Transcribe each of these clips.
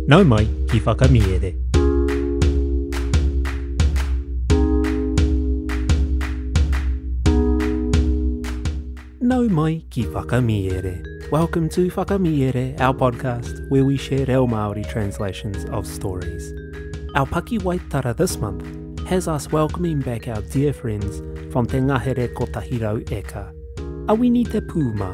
Nau mai ki Whakamiere. Nau mai ki Whakamiere. Welcome to Whakamiere, our podcast where we share reo Māori translations of stories. Our pakiwaitara this month has us welcoming back our dear friends from Te Ngahere Kotahi Rau Eka, Awini Te Pūmā,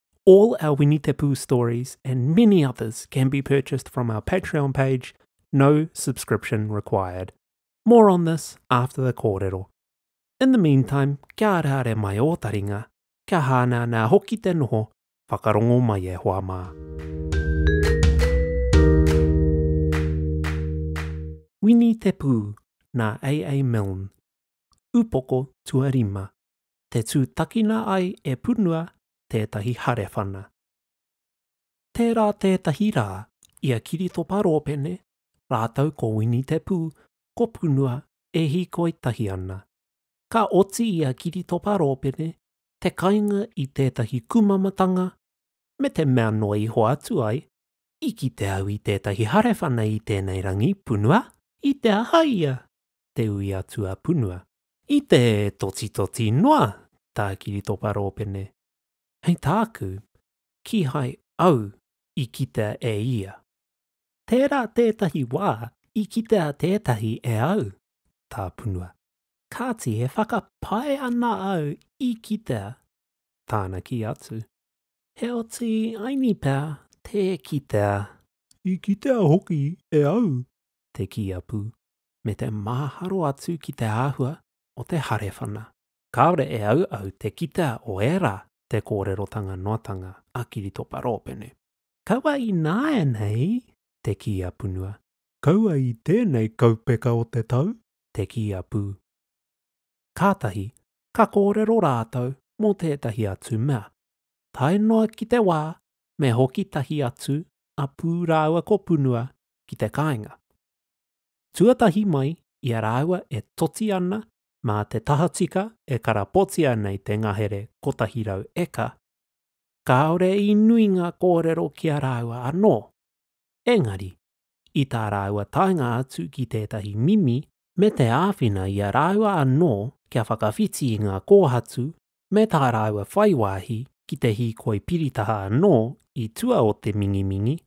All our Winitapu stories and many others can be purchased from our Patreon page, no subscription required. More on this after the kōrero. In the meantime, kia ara are mai ō taringa, kia hānā nā hoki te noho, whakarongo mai e hoa mā. Winitapu, nā A.A. Milne. Upoko Tuarima. te tūtakina ai e Punua tētahi harewhana. Tērā tētahi rā i a Kiritopa Rōpene rātou ko Wini Te Pū ko Punua e hīkoi tahi ana. Ka oti i a Kiritopa Rōpene te kainga i tētahi kumamatanga me te mea noa iho atu ai, I kite au i tētahi harewhana i tēnei rangi, Punua? I te aha ia? te ui atu a Punua. I te totitoti noa tā Kiritopa Rōpene, hei tāku, kīhai au i kitea e ia. Tērā tētahi wā i kitea tētahi e au, tāpunua, kāti e whakapae ana au i kitea tāna kī atu. Heoti, aini pea tē kitea. I kitea hoki e au, te kī a Pū. me te māharo atu ki te āhua o te harewhana. Kāore e auau te kitea o ērā te kōrerotanga noatanga a Kiritopa Rōpene. Kaua i nāianei, te kī a Punua. Kaua i tēnei kaupeka o te tau, te kī a Pū. Kātahi ka kōrero rātou mō tētahi atu mea. Tae noa ki te wā me hoki tahi atu a Pū rāua ko Punua ki te kāinga. Tuatahi mai i a rāua e toti ana mā te tahatika e karapotia nei te ngahere 100 eka, kāore i nui ngā kōrero ki a rāua anō. Engari, i tā rāua taenga atu ki tētahi mimi me te āwhina i a rāua anō kia whakawhiti i ngā kōhatu me tā rāua whai wāhi ki te hīkoi piritaha anō i tua o te mingimingi,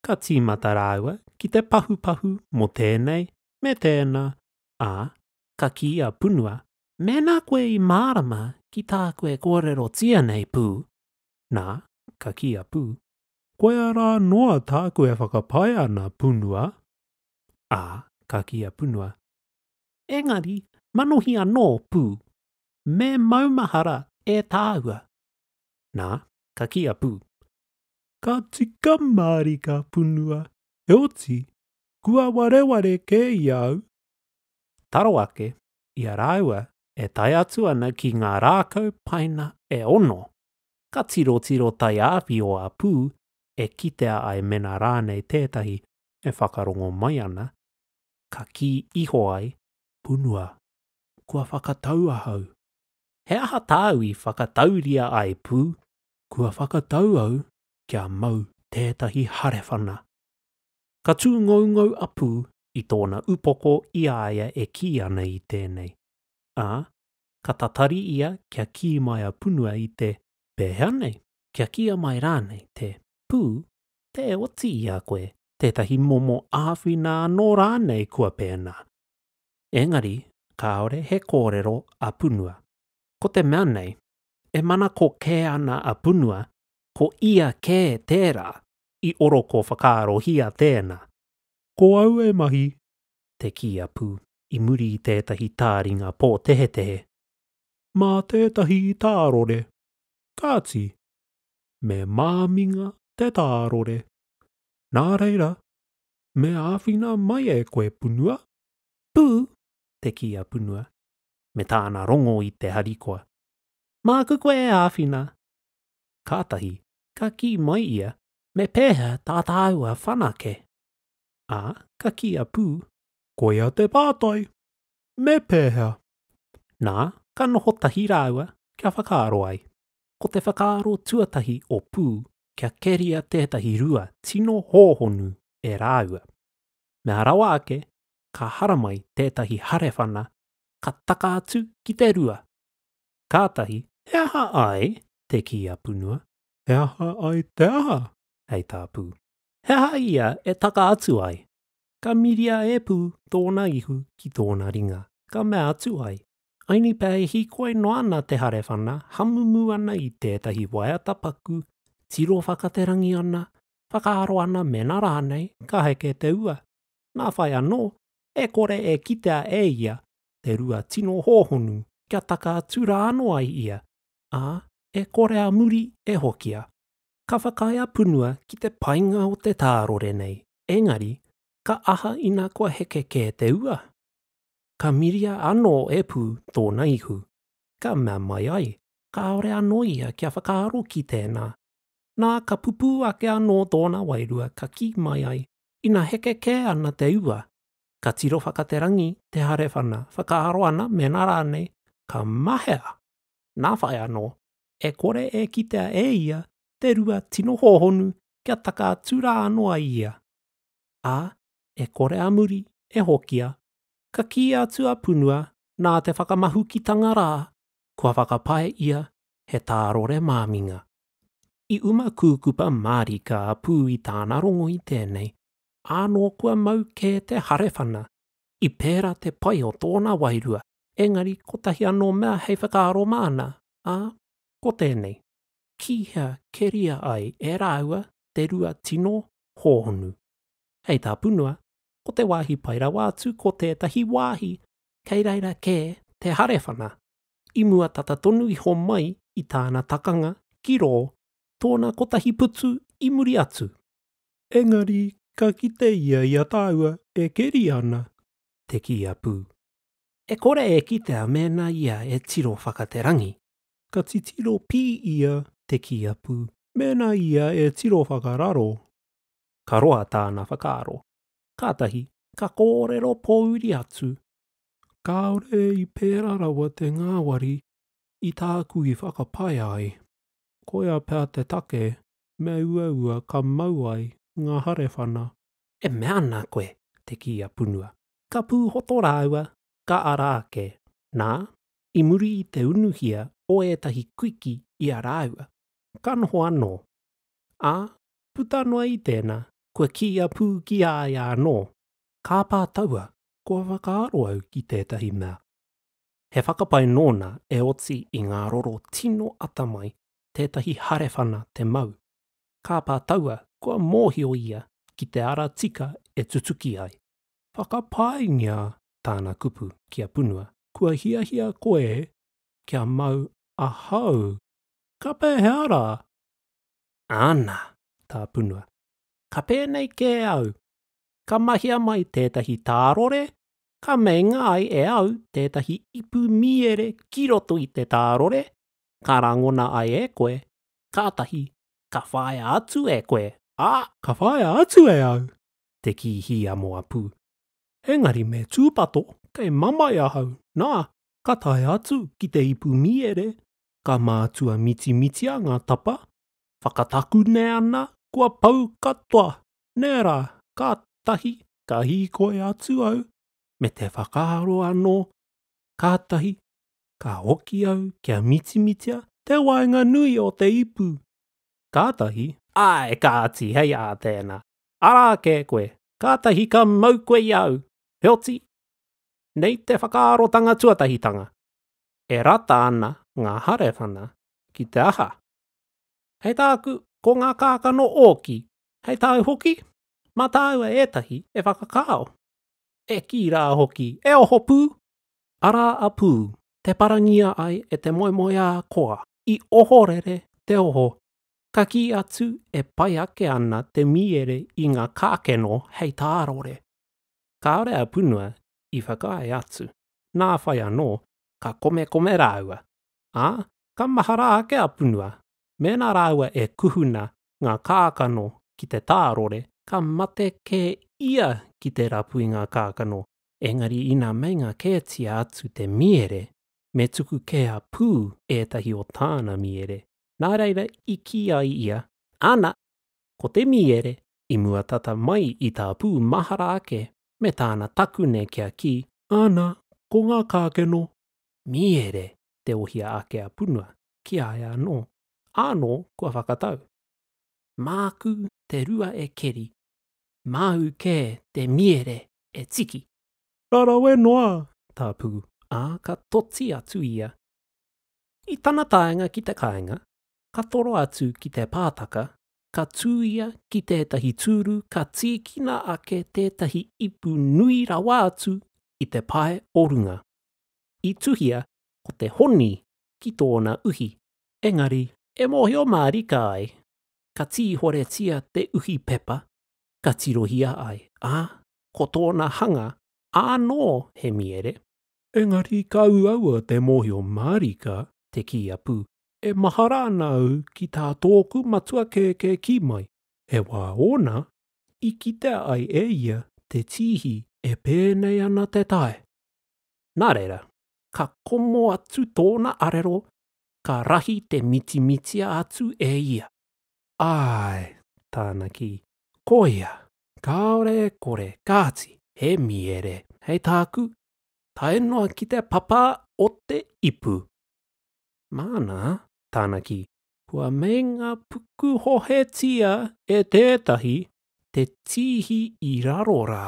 ka tīmata rāua ki te pahupahu mō tēnei me tēnā, ā, ka kī a Punua, Mēnā koe i mārama ki tāku e kōrerotia nei, Pū, nā, ka kī a Pū, Koia rā noa tāku e whakapae ana, Punua, ā, ka kī a Punua, Engari, manohi anō, Pū, me maumahara e tāua, nā, ka kī a Pū, Ka tika mārika punua, heoti, kua wareware kē i a au. Taro ake, i a rāua e tae atu ana ki ngā rākau paina e ono, ka tirotiro taiāwhi o Apu e kitea ai mena rānei tētahi e whakarongo mai ana, ka kī iho ai, Punua, kua whakatau ahau. He aha tāu i whakatauria ai, Pū? kua whakatau au kia mau tētahi harewhana. Ka tū ngoungou a Pū i tōna upoko i a ia e kī ana i tēnei, ā, ka tatari ia kia kī mai a Punua i te, Pēhea nei? Kia kīa mai rānei te, Pū, tē oti i a koe tētahi momo āwhina anō rānei kua pēnā? Engari kāore he kōrero a Punua. Ko te mea nei, e manako kē ana a Punua, ko ia kē tērā i oroko whakaarohia tēnā. Ko au e mahi, te kī a Pū i muri i tētahi tāringa pōtehetehe. Mā tētahi i tārore. Kāti, me māminga te tārore. Nā reira, me āwhina mai e koe, Punua. Pū, te kī a Punua, me tāna rongo i te harikoa. Māku koe e āwhina. Kātahi, ka kī mai ia. Me pēhea tā tāua whanake? Ā, ka kī a Pū. Koia te pātai. Me pēhea? Nā, ka noho tahi rāua, kia whakaaro ai. Ko te whakaaro tuatahi o Pū kia keria tētahi rua tino hōhonu e rāua. Mea rawa ake, ka haramai tētahi harewhana ka taka atu ki te rua. Kātahi, he aha ai? te kī a Punua. He aha ai te aha? hei tā Pū. He aha ia e taka atu ai? Ka miria e Pū tōna ihu ki tōna ringa, ka mea atu ai, Aini pea e hīkoi noa ana te harewhana, hamumu ana i tētahi waiata paku, tiro whakaterangi ana, whakaaro ana mēnā rānei ka heke te ua. Nā whai anō, e kore e kitea e ia te rua tino hōhonu kia taka atu rā anō ai ia, ā, e kore a muri e hokia. Ka whakaae a Punua ki te painga o te tārore nei, engari, ka aha ina kua heke kē te ua? Ka miria anō e Pū tōna ihu, ka mea mai ai, kāore anō ia kia whakaaro ki tēnā. Nā, ka pupū ake anō tōna wairua ka kī mai ai, Ina heke kē ana te ua, ka tiro whakaterangi te harewhana, whakaaro ana mēnā rānei ka mahea, nā whai anō, e kore e kitea e ia te rua tino hōhonu kia taka atu rā anō ai ia. Ā, e kore a muri e hokia, ka kī atu a Punua nā te whakamahukitanga rā kua whakapae ia he tārore māminga. I uma kūkupa mārika a Pū i tāna rongo i tēnei, ānō kua mau kē te harewhana. I pērā te pai o tōna wairua, engari kotahi anō mea hei whakaaro māna, ā, ko tēnei, ki hea keria ai e rāua te rua tino hōhonu. Hei tā Punua, ko te wāhi pai rawa atu ko tētahi wāhi kei reira kē te harewhana, i mua tata tonu iho mai i tāna takanga ki rō tōna kotahi putu i muri atu. Engari ka kite ia i a tāua e keri ana, te kī a Pū. E kore e kitea mēnā ia e tiro whaka te rangi. Ka titiro pī ia, te kī a Pū, mēnā ia e tiro whakararo. Ka roa tāna whakaaro. Kātahi ka kōrero pōuri atu, Kāore i pērā rawa te ngāwari i tāku i whakapae ai. Koia pea te take me uaua ka mau ai ngā harewhana. E mea ana koe, te kī a Punua. Ka pūhoto rāua, ka ara ake. Nā, i muri i te unuhia o ētahi kuiki i a rāua, ka noho anō. Ā, puta noa i tēnā, kua kīia pū ki a ia anō, Kāpā taua, kua whakaaro au ki tētahi mea. He whakapae nōna e oti i ngā roro tino atamai tētahi harewhana te mau, kāpā taua kua mōhio ia ki te ara tika e tutuki ai. Whakapaengia tāna kupu ki a Punua. Kua hiahia koe kia mau ahau? Ka pēhea rā? Āna, tā Punua. Ka pēnei kē au. ka mahia mai tētahi tārore, ka meinga ai e au tētahi ipu mīere ki roto i te tārore, ka rangona ai e koe, kātahi ka whāia atu e koe, ā, ka whāia atu e au te kī hiamoa pū, engari me tūpato kei mamae ahau, nā, ka tae atu ki te ipu mīere, ka mātua mitimitia ngā tapa, whakatakune ana kua pau katoa Nē rā, kātahi ka hīkoi atu au me te whakaaro anō, kātahi ka hoki au kia mitimitia te waenganui o te ipu. Kātahi. Āe, kāti, hei ā tēnā. Arā kē koe, kātahi ka mau koe i a au. Heoti, nei te whakaarotanga tuatahitanga, e rata ana ngā harewhana ki te aha? Hei tāku, ko ngā kākano ōki, Hei tāu hoki, mā tāua ētahi e whakakao. E kī rā hoki, E oho pū! Arā a Pū, te parangia ai e te moemoeā koa. I ohorere te oho, ka kī atu e pai ake ana te mīere i ngā kākeno hei tārore. Kāore a Punua i whakaae atu, nā whai anō, ka komekome rāua. Ā, ka mahara ake a Punua, mēnā rāua e kuhuna ngā kākano ki te tārore, ka mate kē ia ki te rapu i ngā kākano, engari ina meinga kētia atu te miere, me tuku kē a Pū ētahi o tāna miere. Nā reira i kī ai ia, Ana, ko te miere, i mua tata mai i tā Pū mahara ake me tāna takune kia kī, Ana, ko ngā kākeno, miere, te ohia ake a Punua, ki a ia anō. Ānō kua whakatau. Māku te rua e keri, māu kē te miere e tiki! Ka rawe noa tā Pū, ā, ka toti atu ia. I tana taenga ki te kāinga, ka toro atu ki te pātaka, ka tū ia ki tētahi tūru ka tīkina ake tētahi ipu nui rawa atu i te pae o runga. I tuhia ko te honi ki tōna uhi, engari, e mōhio mārika ai ka tīhoretia te uhi pepa ka tirohia ai, ā, ko tōna hanga ānō he miere. Engari ka uaua te mōhio mārika te kī a Pū, E mahara ana au ki tā tōku matua kēkē kī mai, he wā ōna i kitea ai e ia te tīhi e pēnei ana te tae. Nā reira, ka komo atu tōna arero ka rahi te mitimitia atu e ia. Āe, tāna kī, koia, kāore e kore, kāti, he mīere, hei tāku, tae noa ki te papa o te ipu. Māna, tāna kī, kua meinga pukuhohetia e tētahi te tīhi i raro rā.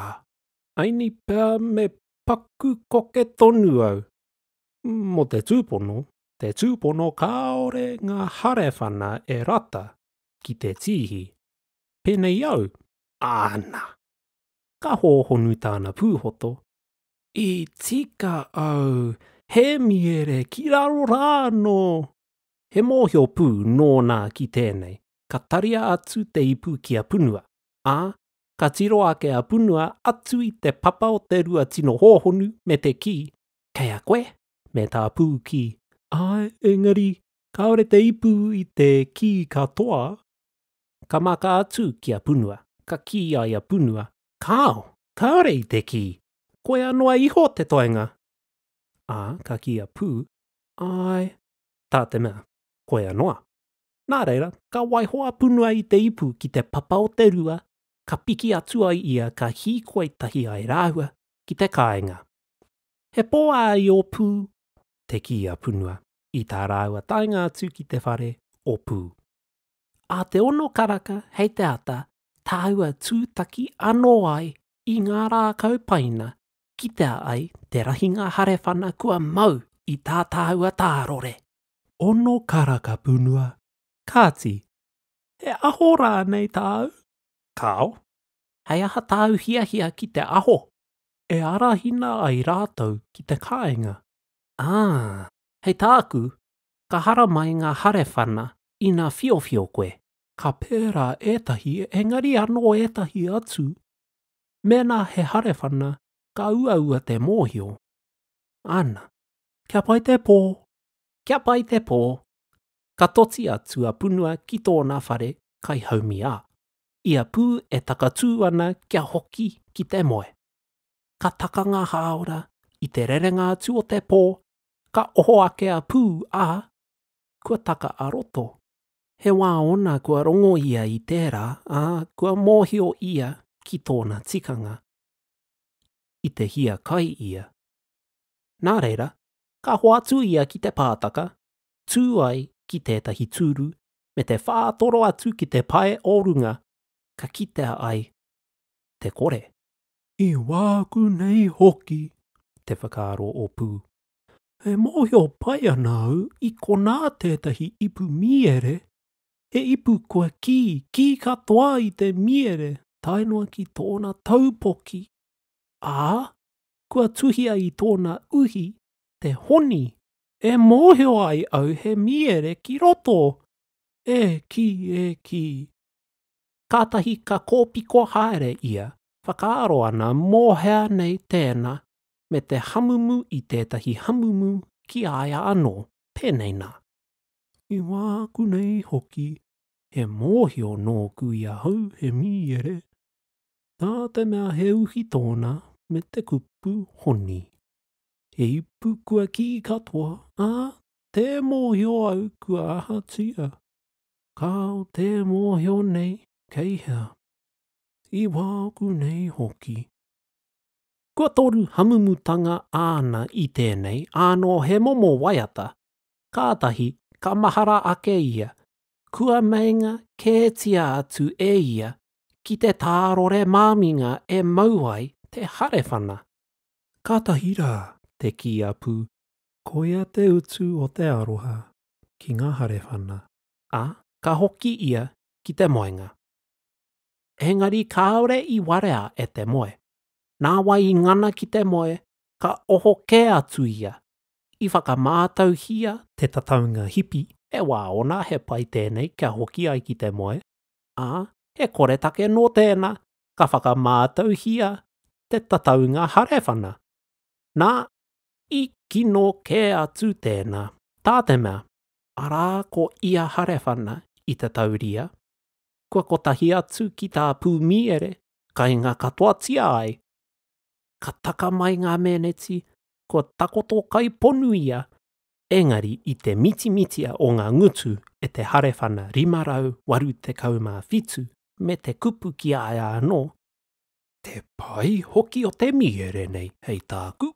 Aini pea me paku koke tonu au, Mō te tūpono, te tūpono kāore ngā harewhana e rata ki te tīhi. Pēnei au, āna! Ka hōhonu tāna pūhoto. I tika au, he miere ki raro rā anō! He mōhio pū nōna ki tēnei, ka taria atu te ipu ki a Punua, ā, ka tiro ake a Punua atu i te papa o te rua tino hōhonu me te kī, Kei a koe? me tā Pūkī. Āe, engari, kāore te ipu i te kī katoa. Ka maka atu ki a Punua, ka kī ai a Punua. Kāo, kāore i te kī, koia noa iho te toenga. Ā, ka kī a Pū, Āe, tā te mea, koia noa. Nā reira, ka waiho a Punua i te ipu ki te papa o te rua, ka piki atu ai ia ka hīkoi tahi ai rāua ki te kāinga. He pō a Iōpū, te kī a Punua, i tā rāua taenga atu ki te whare o Pū. Ā te ono karaka hei te ata tāua tūtaki anō ai i ngā rākau paina kitea ai te rahinga harewhana kua mau i tā tāua tārore. Ono karaka Punua, kāti, he aho rānei tāu? Kāo. Hei aha tāu hiahia ki te aho? e arahina ai rātou ki te kāinga. Ā, hei tāku, ka haramai ngā harewhana ina whiowhio koe. Ka pērā ētahi, engari anō ētahi atu, mēnā he harewhana, ka uaua te mōhio. Ana, kia pai te pō! Kia pai te pō! Ka toti atu a Punua ki tōna whare kai haumi ā. ia pū e takatū ana kia hoki ki te moe. Ka taka ngā hāora, i te rerenga atu o te pō, ka oho ake a Pū, ā, kua taka a Roto. He wā ōna kua rongo ia i tērā, ā, kua mōhio ia ki tōna tikanga. I te hiakai ia. Nā reira, ka hoatu ia ki te pātaka, tū ai ki tētahi tūru, me te whātoro atu ki te pae o runga ka kitea ai te kore. I wāku nei hoki, te whakaaro o Pū, e mōhio pai ana au i konā tētahi ipu mīere, he ipu kua kī, kī katoa i te mīere tae noa ki tōna taupoki, ā, kua tuhia i tōna uhi te honi E mōhio ai au he mīere ki roto! E kī, e kī! Kātahi ka kōpiko haere ia, whakaaro ana mō hea nei tēna, me te hamumu i tētahi hamumu ki a ia anō, pēnei nā. I wāku nei hoki, he mōhio nōku i ahau he mīere, tā te mea he uhi tōna me te kupu honi. He ipu kua kī katoa, ā, tē mōhio au kua ahatia. Kāo tē mōhio nei kei hea. I wāku nei hoki. Kua toru hamumutanga āna i tēnei, ānō he momo waiata. Kātahi, ka mahara ake ia. Kua meinga kētia atu e ia ki te tārore māminga e mau ai te harewhana. Kātahi rā, te kī a Pū, koia te utu o te aroha ki ngā harewhana. Ā, ka hoki ia ki te moenga. Engari kāore i warea e te moe. Nāwai i ngana ki te moe, ka oho kē atu ia, i whakamātauhia te tataunga hipi, he wā ōna he pai tēnei kia hoki ai ki te moe, ā, he koretake nō tēnā ka whakamātauhia te tataunga harewhana. Nā, i kino kē atu tēnā, tā te mea, arā ko ia harewhana i te tauria, kua kotahi atu ki tā Pūmiere kainga katoatia ai. Ka taka mai ngā meneti kua takoto kai ponu ia, engari i te mitimitia o ngā ngutu e te harewhana 587 me te kupu ki a ia anō, Te pai hoki o te mīhere nei hei tāku,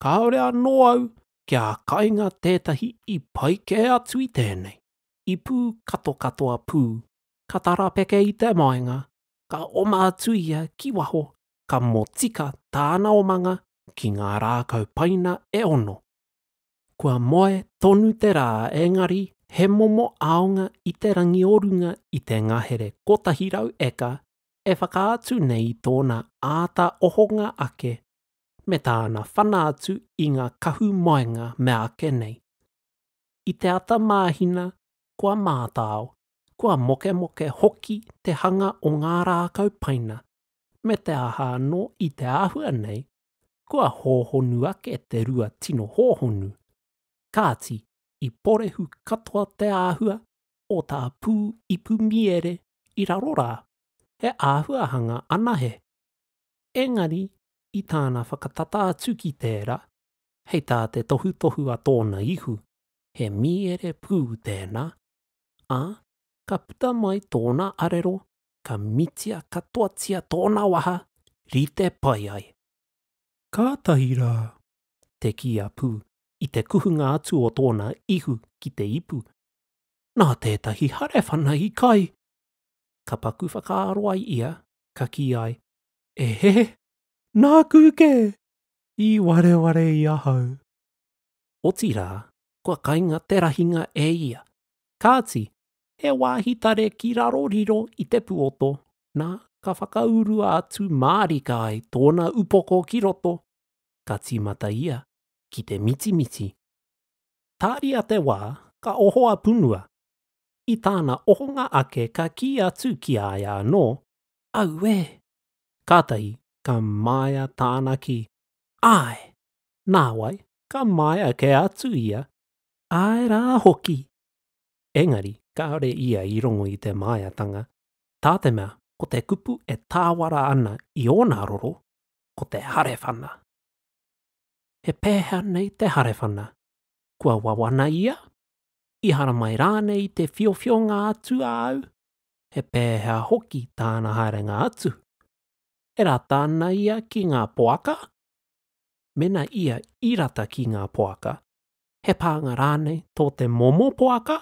kāore anō au kia kainga tētahi i pai kē atu i tēnei, i pū katokatoa pū, ka tarapeke i te maenga, ka oma atu ia ki waho, ka motika tāna omanga ki ngā rākau paina e ono. kua moe tonu te rā engari he momo aonga i te rangi o runga i te ngahere 100 eka e whakaatu nei i tōna āta ohonga ake me tāna whana atu i ngā kahu moenga meāke nei. I te ata māhina kua mātao, kua mokemoke hoki te hanga o ngā rākau paina me te aha anō i te āhua nei kua hōhonu ake te rua tino hōhonu, kāti, i porehu katoa te āhua o tā Pū Ipu Miere i raro rā, he āhuahanga anahe. Engari i tāna whakatata atu ki tērā, hei tā te tohutohu a tōna ihu, he Miere Pū tēnā, ā, ka puta mai tōna arero ka mitia katoatia tōna waha rite pai ai. Kātahi rā, te kī a Pū, i te kuhunga atu o tōna ihu ki te ipu, nā tētahi harewhana i kai! Ka paku whakaaro ai ia, ka kī ai, E he! Nāku kē! I wareware i ahau! Otirā, kua kainga te rahinga e ia, kāti, he wāhi tare ki raro riro i te puoto, nā, ka whakaurua atu mārika ai tōna upoko ki roto, ka tīmata ia ki te mitimiti. Tāria te wā, ka oho a Punua. I tāna ohonga ake ka kī atu ki a ia anō, Auē! Kātahi ka māia tāna kī, Āe! Nāwai, ka māia kē atu ia, Āe rā hoki! engari kāore ia i rongo i te māiatanga, tā te mea ko te kupu e tāwara ana i ōna roro, ko te harewhana. He pēhea nei te harewhana? Kua wawana ia? I haramai rānei i te whiowhionga atu a au? He pēhea hoki tāna haerenga atu? E rata ana ia ki ngā poaka? Mēnā ia i rata ki ngā poaka, he pānga rānei tō te momo poaka?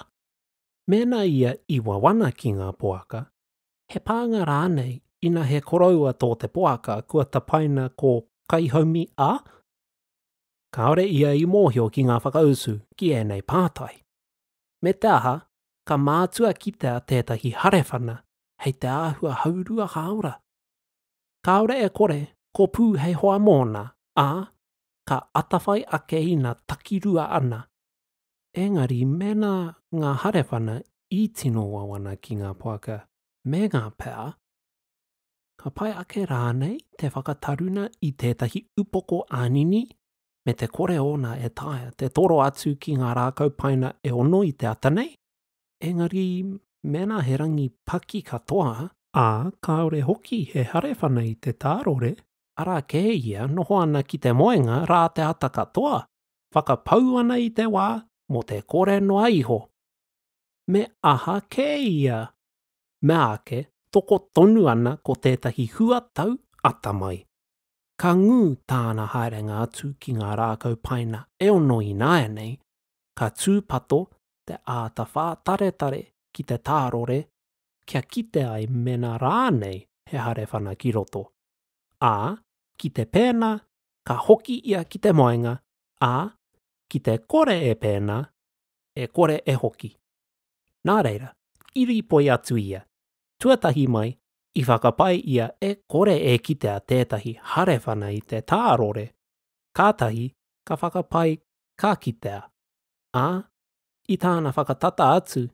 Mēnā ia i wawana ki ngā poaka, he pānga rānei ina he koroua tō te poaka kua tapaina ko Kaihaumi a? Kāore ia i mōhio ki ngā whakautu ki ēnei pātai. Me te aha, ka mātua kitea tētahi harewhana hei te āhua haurua hāora. Kāore e kore, ko Pū hei hoa mōna, ā, ka atawhai ake ina takirua ana, engari mēnā ngā harewhana i tino wawana ki ngā poaka me ngā pea, ka pai ake rānei te whakataruna i tētahi upoko ānini me te kore ōna e taea te toro atu ki ngā rākau paina e ono i te ata nei, engari mēnā he rangi paki katoa, ā, kāore hoki he harewhana i te tārore, arā kē ia noho ana ki te moenga rā te ata katoa, whakapau ana i te wā mō te kore noa iho. Me aha kē ia? Meāke toko tonu ana ko tētahi huatau ata mai. Ka ngū tāna haerenga atu ki ngā rākau paina e ono ināianei, ka tūpato te āta whātaretare ki te tārore kia kite ai mēnā rānei he harewhana ki roto. ā, ki te pēnā, ka hoki ia ki te moenga, ā, ki te kore e pēnā, e kore e hoki. Nā reira, i rīpoi atu ia. Tuatahi mai, i whakapae ia e kore e kitea tētahi harewhana i te tārore, kātahi ka whakapae ka kitea, ā, i tāna whakatata atu,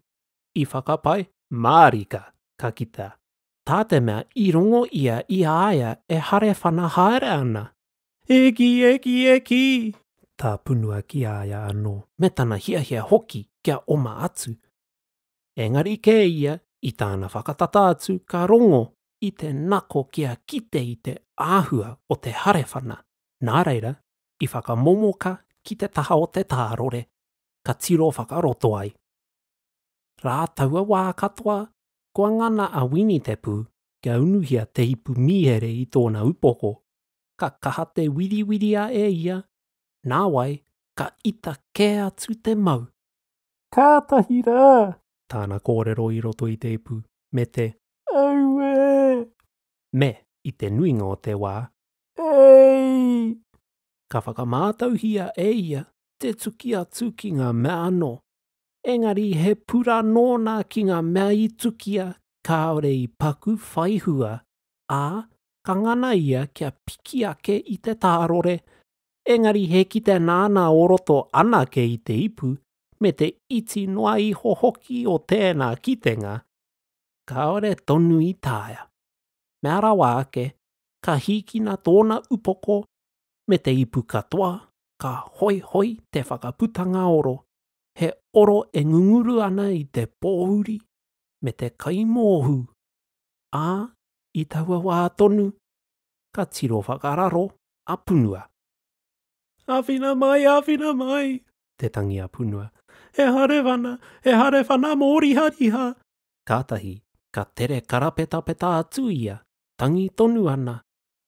i whakapae mārika ka kitea. tā te mea i rongo ia i a ia e harewhana haere ana. Eki, eki, eki! tā punua ki a ia anō, me tana hiahia hoki kia oma atu. Engari kē ia, i tāna whakatata atu ka rongo i te nako kia kite i te āhua o te harewhana, nā reira, i whakamomoka ki te taha o te tārore, ka tiro whakaroto ai. Rā taua wā katoa Kua ngana a Wini te pū kia unuhia te ipu mīhere i tōna upoko, ka kaha te wiriwiria e ia, nāwai ka ita kē atu te mau. Kātahi rā! tāna kōrero i roto i te ipu, me te. Auē! Me, i te nuinga o te wā. Eeii! Ka whakamātauhia e ia te tuki atu ki ngā mea anō. Engari he pura nōna ki ngā mea i tukia kāore i paku whai hua, ā, ka ngana ia kia piki ake i te tārore, engari he kite nāna o roto anake i te ipu, me te iti noa iho hoki o tēnā kitenga, kāore tonu i taea. Mea rawa ake, ka hīkina tōna upoko me te ipu katoa, ka hoihoi te whakaputanga oro, He oro e ngunguru ana i te pōuri me te kaimōhū, ā, i taua wā tonu, ka tiro whakararo a Punua. Āwhina mai, āwhina mai! te tangi a Punua. He harewana, he harewana mōrihariha! Kātahi ka tere karapetapeta atu ia, tangi tonu ana.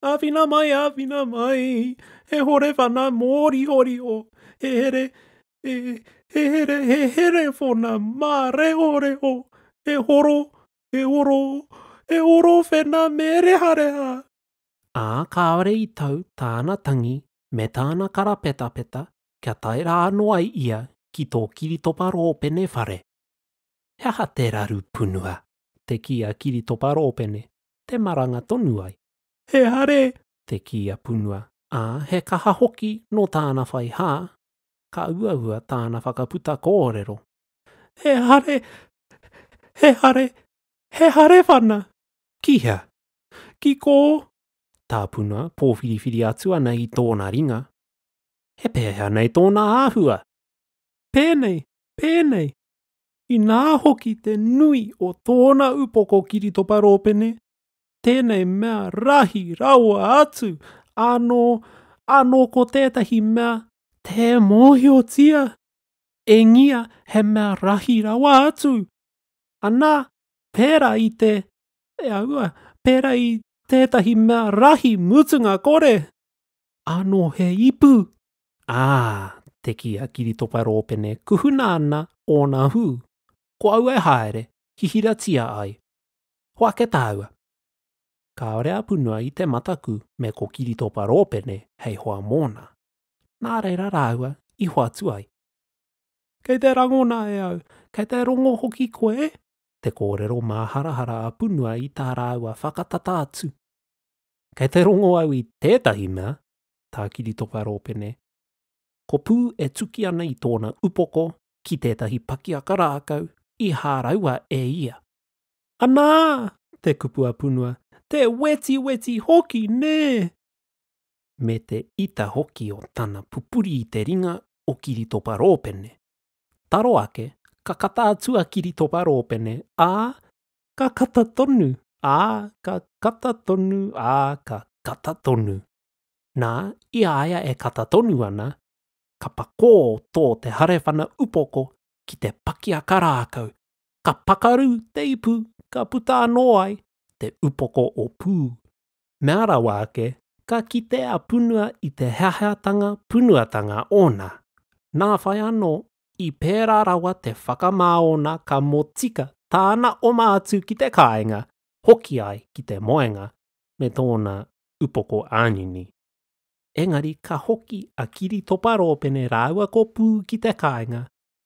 Āwhina mai, āwhina mai! He horewana mōrihoriho, he here, e, he here, he here whona mā reho reho, he horo, he horo, he horo whena me reha reha. Ā, kāore i tau tāna tangi me tāna karapetapeta kia tae rā anō ai ia ki tō Kiritopa Rōpene whare. He aha te raru punua? te kī a Kiritopa Rōpene, te maranga tonu ai. He hare! te kī a Punua, ā, he kaha hoki nō tāna whai hā, ka uaua tāna whakaputa kōrero, He hare! He hare! He hare whana! Ki hea? Ki kō? Tā Puna pōwhiriwhiri atu ana i tōna ringa, He pēhea nei tōna āhua? Pēnei! Pēnei! Inā hoki te nui o tōna upoko kiritopa rōpene, tēnei mea rahi rawa atu, ānō, ānō ko tētahi mea tē mōhiotia, engia he mea rahi rawa atu, anā, pērā i te, e aua, pērā i tētahi mea rahi mutunga kore, ānō he ipu. Ā, te kī a Kiritopa Rōpene kuhuna ana ōna hū, ko aua e haere, hihiratia ai. Ko ake tāua. Kāore a Punua i te mataku me ko Kiritopa Rōpene hei hoa mōna. Nā reira rāua i hoatu ai. Kei te rangona e au, kei te rongo hoki koe e? te kōrero māharahara a Punua i tā rāua whakatata atu. Kei te rongo au i tētahi mea, tā Kiritopa Rōpene. Ko Pū e tuki ana i tōna upoko ki tētahi pakiaka rākau i hāraua e ia. Anā! te kupu a Punua, te wetiweti hoki nē! me te ita hoki o tana pupuri i te ringa o Kiritopa Rōpene. Taro ake, ka kata atu a Kiritopa Rōpene, ā, ka kata tonu, ā, ka kata tonu, ā, ka kata tonu. Nā, i a ia e kata tonu ana, ka pakō tō te harewhana upoko ki te pakiaka rākau, Ka pakaru te ipu ka puta anō ai te upoko o Pū. Mea rawa ake, ka kite a Punua i te heaheatanga punuatanga ōna. Nā whai anō, i pērā rawa te whakamā ōna ka motika tāna oma atu ki te kāinga, hoki ai ki te moenga me tōna upoko ānini. Engari ka hoki a Kiritopa Rōpene rāua ko Pū ki te kāinga,